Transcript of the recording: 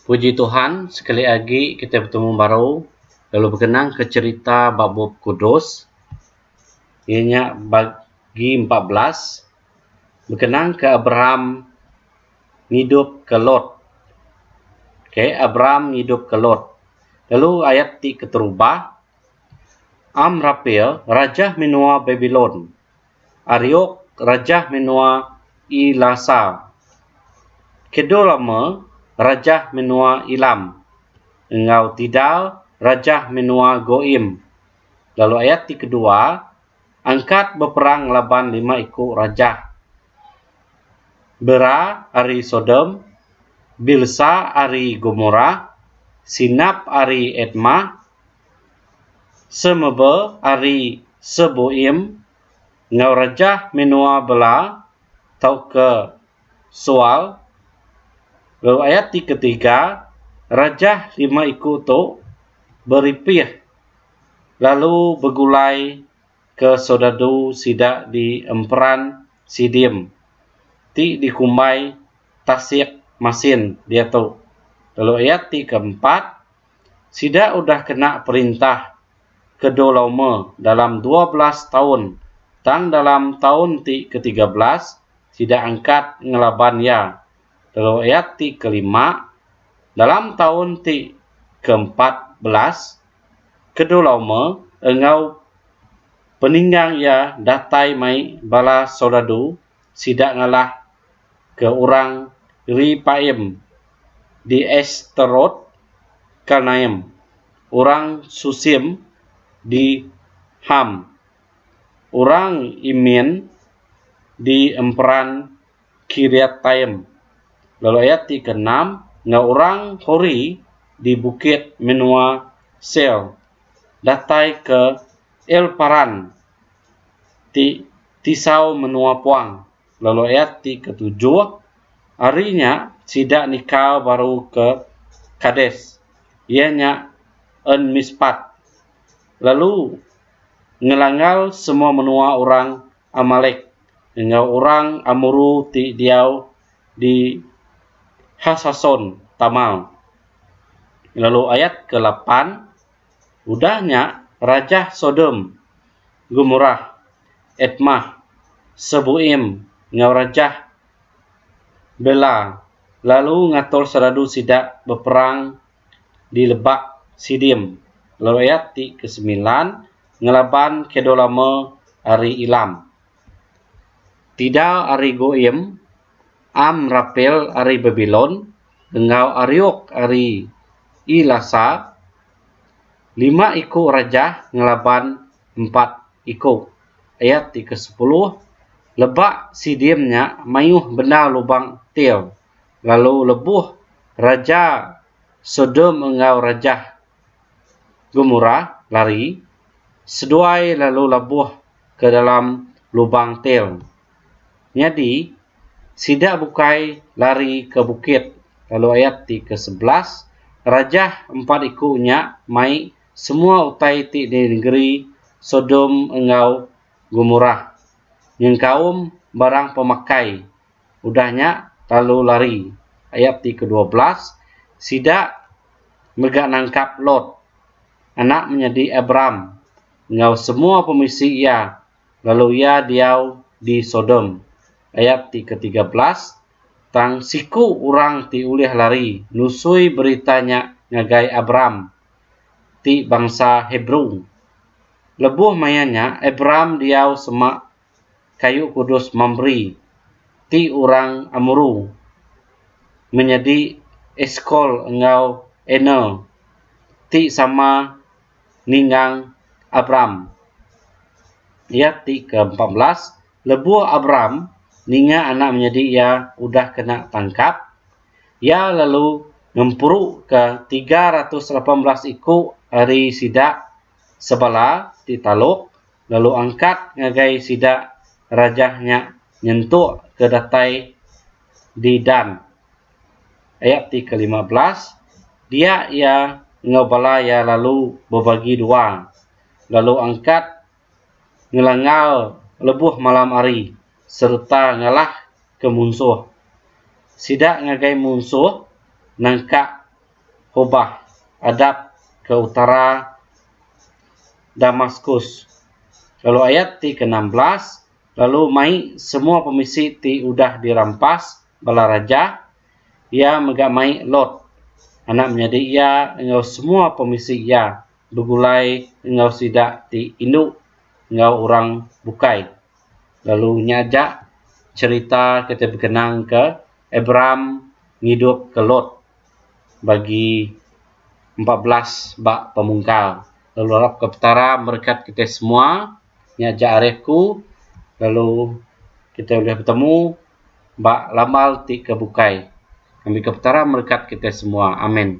Puji Tuhan sekali agi kitai betemu baru lalu bekenang ke cherita ba bup kudus iya nya bagi empat belas bekenang ke Abraham ngidup ke Lot okay Abraham ngidup ke Lot lalu ayat ti keterubah Amrapel raja menua Babylon Ariok, Rajah Menua Ilasa. Kedul Ama, Rajah Menua Ilam. Enggau Tidal, Rajah Menua Goim. Lalu ayat ti kedua, Angkat beperang ngelaban lima iku rajah, Bera ari Sodom, Bilsa ari Gomorah, Sinap ari Admah, Semeba ari Sebuim enggau Rejah Menua Bela tauka Sual, lalu ayat ti ketiga, Rejah lima iku tu beripih lalu begulai ke soldadu sida di Emperan Sidim ti dikumbai Tasik Masin diatu, lalu ayat ti keempat, Sida udah kena perintah ke dua loma dalam dua belas taun tang dalam taun ti ke tiga belas sida angkat ngelaban iya lalu ayat ti ke lima dalam taun ti ke empat belas ke dua loma enggau peninggang iya datai mai bala soldadu sida ngalah ke orang Repaim di Astarot, Karnaim, orang Susim di Ham, orang Imin di emperan Kiriataim, lalu ayat ti ke enam enggau orang Hori di bukit menua Seir, datai ke Elparan ti Tisau menua puang lalu ayat ti ketujuh, Ari nya sida nikal baru ke Kades, iya nya En Mispat, lalu ngelanggar semua menua orang Amalek enggau orang Amuru ti diau di Hasason-tamal. Lalu ayat ke lapan, Udah nya rajah Sodom, Gomorah, Admah, Seboim enggau rajah Bela lalu ngatur seradu sida beperang di Lebak Sidim, lalu ayat ti kesemilan, ngelaban Kedorlaomer ari Elam. Tidal ari Goim, Am rapil ari Babilon enggau ariuk ari Elasa, lima iku rajah ngelaban empat iku. Ayat ti ke sepuluh, Leba sidim nya mayuh bendar lubang Tyr, lalu lebuh raja Sodom enggau rajah Gomorah lari, seduai lalu labuh ke dalam lubang Tyr. Nyadi, sida bukai lari ke bukit lalu ayat ti ke sebelas, rajah empat iku nya mai semua utai ti di nengeri Sodom enggau Gomorah, nyengkaum barang pemakai, udah nya lalu lari, ayat ti ke dua belas, sida mega nangkap Lot, anak menyadi Abram, enggau semua pemisi iya lalu iya diau di Sodom. Ayat ti ke tiga belas Tang siku orang ti ulih lari nusui berita nya ngagai Abram, ti bangsa Hebrew. Lebuh maya nya Abram diau sema kayu kudus Mamre, ti orang Amuru, menyadi Eskol enggau Aner, ti sama ningang Abram. Ayat ti ke-14, lebuh Abram ninga anak menyadi iya udah kena tangkap, iya lalu ngemperuka tiga ratus lapan belas iku ari sida sebala ti taluk lalu angkat ngagai sida rajah nya nyentuk ke datai di Dan. Ayat ti kelima belas, Dia iya enggau bala iya lalu bebagi dua, lalu angkat ngelanggar lebuh malam hari sereta ngalah ke munsuh. Sida ngagai munsuh nangkak Hobah adap ke utara Damaskus. Lalu ayat ti keenam belas, Lalu mai semua pemisi ti udah dirampas bala raja, iya mega mai Lot, anak menyadi iya enggau semua pemisi iya begulai enggau sida ti indu enggau orang bukai. Lalu nya aja cherita ke dibekenang ke Abraham ngidup ke Lot bagi empat belas ba pemungkal. Lalu arap ke Petara merekat kitai semua, nya aja ari aku lalu kitai ulih betemu. ba lamal ti ke bukai. Ngambika Petara merekat kitai semua. Amin.